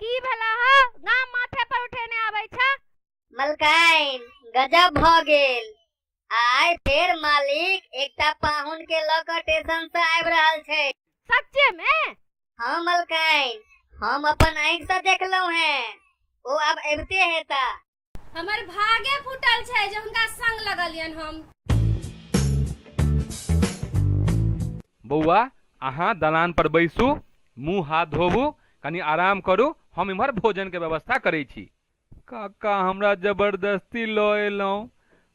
की भेला ह गाम माथे पर उठेने आबै छ मलकाइन गजब भ गेल आइ फेर मालिक एकटा पाहुन के ल क स्टेशन से आबि रहल छै सच्चे में हाँ मलकाइन हम अपन आँखि से देखलहुँ हैं ओ अब अबिते हेता हमर भागे फूटल छै जे हुनका संग लगलियन हम बौआ अहाँ दलान पर बैसू मुंह हाथ धोबू कनी आराम करू हम इम्हर भोजन के व्यवस्था करै छी काका हमरा जबरदस्ती लऽ एलहुँ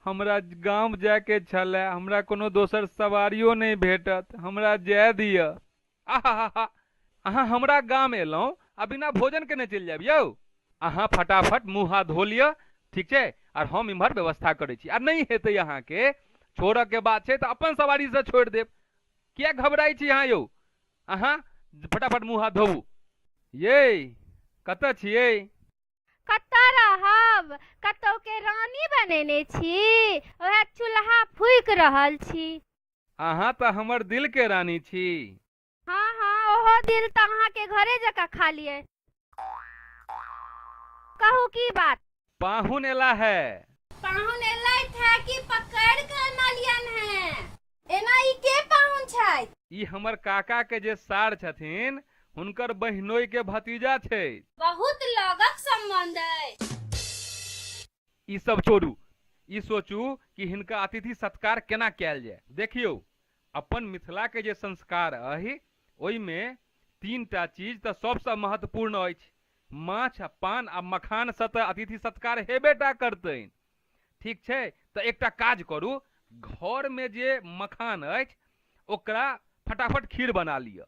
हमरा गाम जायके छलए हमरा कोनो दोसर सवारियो नहि भेटत हमरा जाय दिअ आहाहाहा अहाँ हमरा गाम एलहुँ आ बिना भोजन केने चलि जायब यौ अहाँ फटाफट मुँह हाथ धो लिअ ठीक छै आर हम इम्हर व्यवस्था करै छी आ नहि हेतै अहाँके छोड़यके बात छै तऽ अपन सवारीसँ छोड़ि देब किए घबराइ छी अहाँ यौ अहाँ फटाफट मुँह हाथ धोबू ये कतऽ छियै कतऽ रहब कतौके रानी बनेने छी ओएह चूल्हा फूकि रहल छी अहाँ तऽ हमर दिल के रानी छी हाँ हाँ ओहो दिल तऽ अहाँ के घरे जका खा लिए कहू की बात पाहुन एला है पाहुन एलैथ है कि पकड़ के अनलियन है एना ई के पाहुन छै ई हमर काका के जे सार छथिन हुनकर बहिनोई के भतीजा छै बहुत लगक संबंध है ई सब छोड़ू ई सोचू कि हिनका अतिथि सत्कार केना कयल जाय देखियौ अपन मिथिलाके जे संस्कार अहि ओहिमे तीन टा चीज तऽ सभसँ महत्वपूर्ण अछि माछ आ पान आ मखानसँ तऽ अतिथि सत्कार हेबे टा करतनि ठीक छै तऽ एकटा काज करू घरमे जे मखान अछि ओकरा फटाफट खीर बना लिअ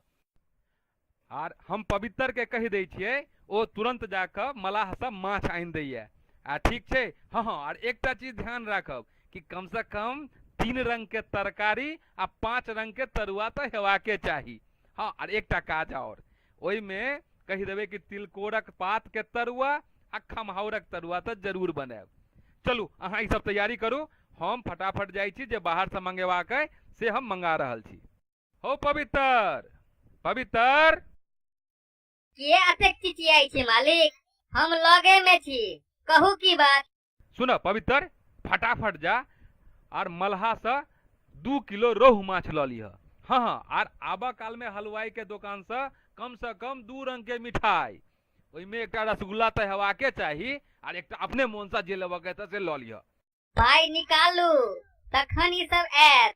आर हम पवित्रके कहि दै छियै ओ तुरन्त जा कऽ मलाहसँ माछ आनि दैए आ ठीक छै हँ हँ आर एकटा चीज ध्यान राखब कि कमसँ कम तीन रङ्गके तरकारी आ पाँच रङ्गके तरुआ तऽ हेबाके चाही हँ आर एकटा काज आओर ओहिमे कहि देबै कि तिलकोरक पातके तरुआ आ खमहाउरक तरुआ तऽ जरूर बनायब चलू अहाँ ईसभ तैयारी करू हम फटाफट जाइ छी जे बाहरसँ मङ्गेबाक अइ से हम मङ्गा रहल छी हो पवित्र पवित्र के अतेक चिचियाई छी मालिक हम लगे में छी कहू की बात सुन पवित्र फटाफट जा आर मलहा से दू किलो रोहु माछ लऽ लिह हँ हँ आर आबऽ काल में हलवाई के दोकान से कम से कम दू रंग के मिठाई ओहिमे एकटा रसगुल्ला तऽ हेबाके चाही आर एकटा अपने मोन से जे लेबऽ के हेतै से लऽ लिह पाई निकालू तखन ई सब आयत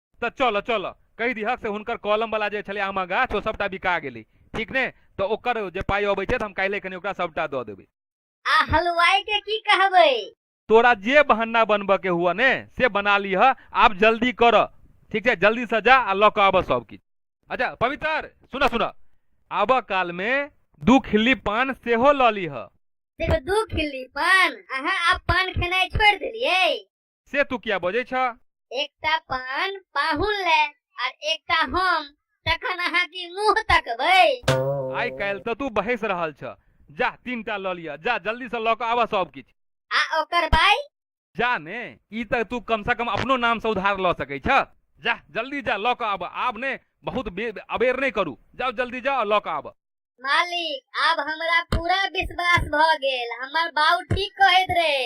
तऽ चलऽ चलऽ कहि दिहक से हुनकर कॉलमवला जे छलै आमा गाछ ओ सभटा बिका गेलै ठीक ने तऽ ओकर जे पाइ अबै छै तऽ हम काल्हि कनि ओकरा सभटा दऽ देबै आ हलवाई के की कहबै तोरा जे बहाना बनबऽ के हुआ ने से बना लिह आब जल्दी कर ठीक छै जल्दी से जा आ लऽ कऽ आबऽ सब किछु अच्छा पवित्र सुनऽ सुनऽ आबऽ काल मे दू खिल्ली पान सेहो लऽ लिह सिर्फ दू खिल्ली पान अहाँ आब पान खेनाइ छोड़ि देलियै से तू किया बजै छ एकटा पान पाहुन ले आर एकटा हम तखन अहाँ की मुंह तकबै आइ काल्हि तऽ तू बहस रहल छ जा तीनटा लऽ लिअ जा जल्दी से लऽ कऽ आबऽ सब किछु आ ओकर बाई जा ने ई तऽ तू कम से कम अपनो नाम से उधार लऽ सकै छ जा जल्दी जा लऽ कऽ आबऽ आब ने बहुत बे- अबेर नहि करू जाओ जल्दी जाओ आ लऽ कऽ आबऽ मालिक आब हमरा पूरा विश्वास भ गेल हमर बाऊ ठीक कहैत रहे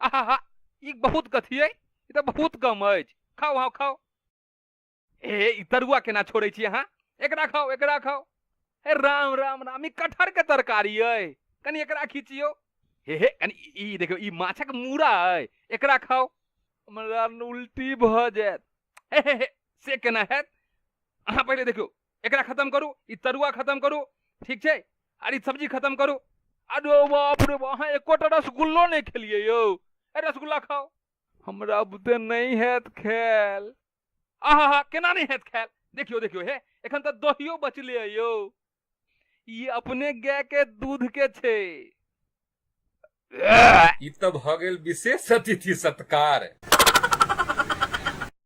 आहा हा ई बहुत कथी अइ ई तऽ बहुत कम अछि खाओ अहाँ खाओ ए ई तरुआ केना छोड़ै छी अहाँ एकरा खाओ एकरा खाओ हे राम राम राम ई कटहर के तरकारी अइ कनि एकरा खींचियो हे हे कनि ई देखियौ ई माछक मूड़ा अइ एकरा खाओ हमरा उल्टी भऽ जायत हे हे हे से केना हैत अहाँ पहिले देखियौ एकरा खत्म करू ई तरुआ खत्म करू ठीक छै आर ई सब्जी खत्म करू अरे बाप रे बाप, अहाँ एकोटा रसगुल्लो नहि खेलियै यौ ए रसगुल्ला खाओ हमरा बुते नहि हैत खायल आहा हा केना नहि हैत खायल देखियो देखियो हे एखन तऽ दहियो बचले है यौ ई अपने गाय के दूध के छै ई तऽ भऽ गेल विशेष अतिथि सत्कार